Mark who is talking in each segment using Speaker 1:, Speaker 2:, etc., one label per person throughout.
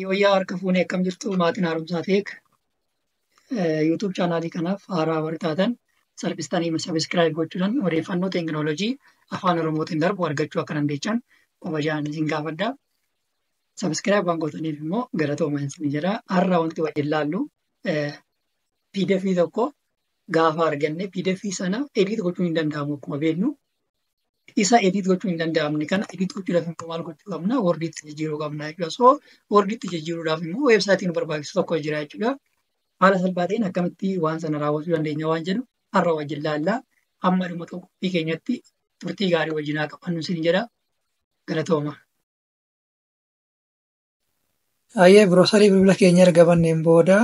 Speaker 1: Yooyyaa harka fuunee akkam jirtu maatiin haaromsaa teek YouTube chaanaalii kanaaf haaraa warri taatan salphistanii sabiskiraayib gochuudhaan odeeffannoo teekinooloojii afaan Oromootiin darbu argachuu akka dandeessan kabajaan isin gaafadha. Sabiskiraayib waan gootaniif immoo galatoomaa isin jedha. Har'a wanti wajjin laallu PDF tokko gaafa arganne pdf sana edit gochuun hin danda'amu akkuma beeknu. Isa edit gochuun hin danda'amne kana edit gochuudhaaf immoo maal gochuu qabna? Wordiitti jijjiiruu qabna jechuudha. So wordiitti jijjiiruudhaaf immoo weebsaayitii nu barbaachisu tokko jira jechuudha. Haala salphaa ta'een akkamitti waan sana raawwachuu dandeenya waan jedhu har'a wajjin laallaa. Amma dhuma qophii keenyatti turtii gaarii wajjin haa qabannu isin jedha. Galatooma. Ayyee biroosarii bilbila keenya erga banneen booda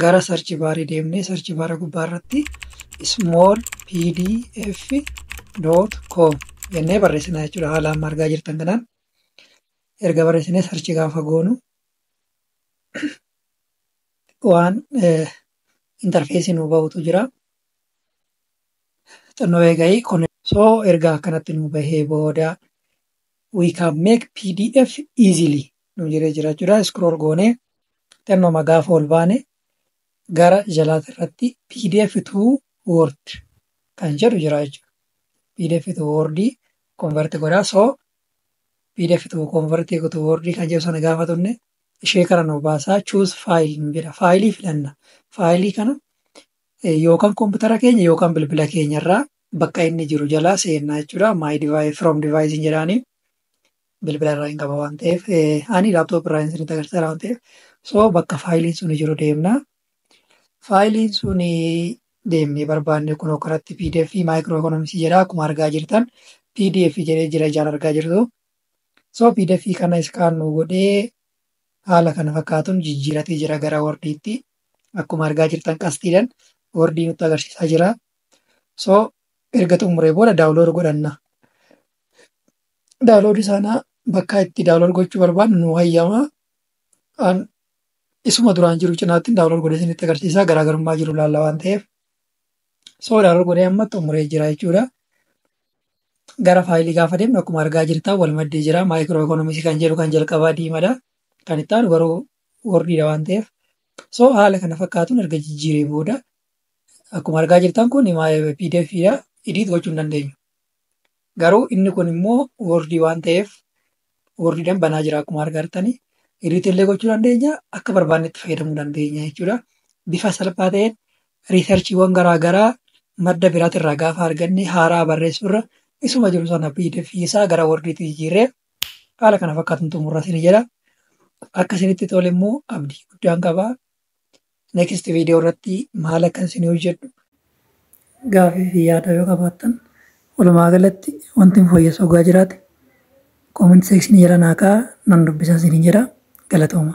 Speaker 1: gara sarchi baarii deemnee sarchi baara gubbaa irratti small pdf dot com jennee barreessina jechuudha haala amma argaa jirtan kanaan erga barreessinee sarchi gaafa goonu waan intarfeesii nuu bahutu jira xinnoo eegayi kun soo erga akkanatti nuu bahee booda we can make pdf easily nu jedhee jira jechuudha scroll goonee xinnoma gaafa ol baane gara jalaati irratti pdf to word kan jedhu jira jechuudha pdf to word convert godhaa so pdf to convert to word kan jedhu sana gaafa tunne ishee kana nu baasaa choose file nu jedha faayilii filanna faayilii kana yookaan koompitara keenya yookaan bilbila keenya irraa bakka inni jiru jalaa seennaa jechuudha. My device from device hin jedhaanii. bilbila irraa hin qaba waan ta'eef ani laaptoop irraa hin sinitti agarsiisa waan ta'eef so bakka faayiliin suni jiru deemna. Faayiliin suni deemnee barbaanne kun kanatti pdf maayikiroo ekonomiksii jedha akkuma argaa jirtan pdf jedhee jira ijaan argaa jirtu. So pdf kana iskaan nu godhee haala kana fakkaatuun jijjiiratee jira gara wordiitti akkuma argaa jirtan qastiidhan wordii nutti agarsiisaa jira. so erga xumuree booda daawulood godhanna daawulood isaanaa bakka itti daawulood gochuu barbaadnu nu hayyama an isuma duraan jiru cinaatti daawulood godhee isinitti agarsiisaa garaagarummaa jiru laalla waan ta'eef so daawulood godhee amma xumuree jira jechuudha gara faayilii gaafa deemnu akkuma argaa jirtan wal maddee jira maayikiroo ikoonomisii kan jedhu kan jalqabaa diimadha kan itti aanu garuu wordiidha waan ta'eef so haala kana fakkaatuun erga jijjiiree booda Akkuma argaa jirtan kun pdf dha. Edit gochuu hin dandeenyu. Garuu inni kun immoo word waan ta'eef word dhan banaa jira akkuma argartani. Edit illee gochuu dandeenya akka barbaannetti fayyadamuu dandeenya jechuudha. Bifa salphaa ta'een riisarchiiwwan garaa garaa madda biraatirraa gaafa arganne haaraa barreessuurra isuma jiru sana pdf isaa gara wordiitti jijjiirree haala kana fakkaatuun xumurra isin jedha. Akka isinitti tole immoo abdii guddaan qaba. next video irratti maal akka isin hojjedhu gaafii fi yaada yoo qabaattan walumaa galatti wanti hin fooyyessu ogaa jiraate comment section jala naa kaa'aa nan dubbisa isin hin jedha galatooma.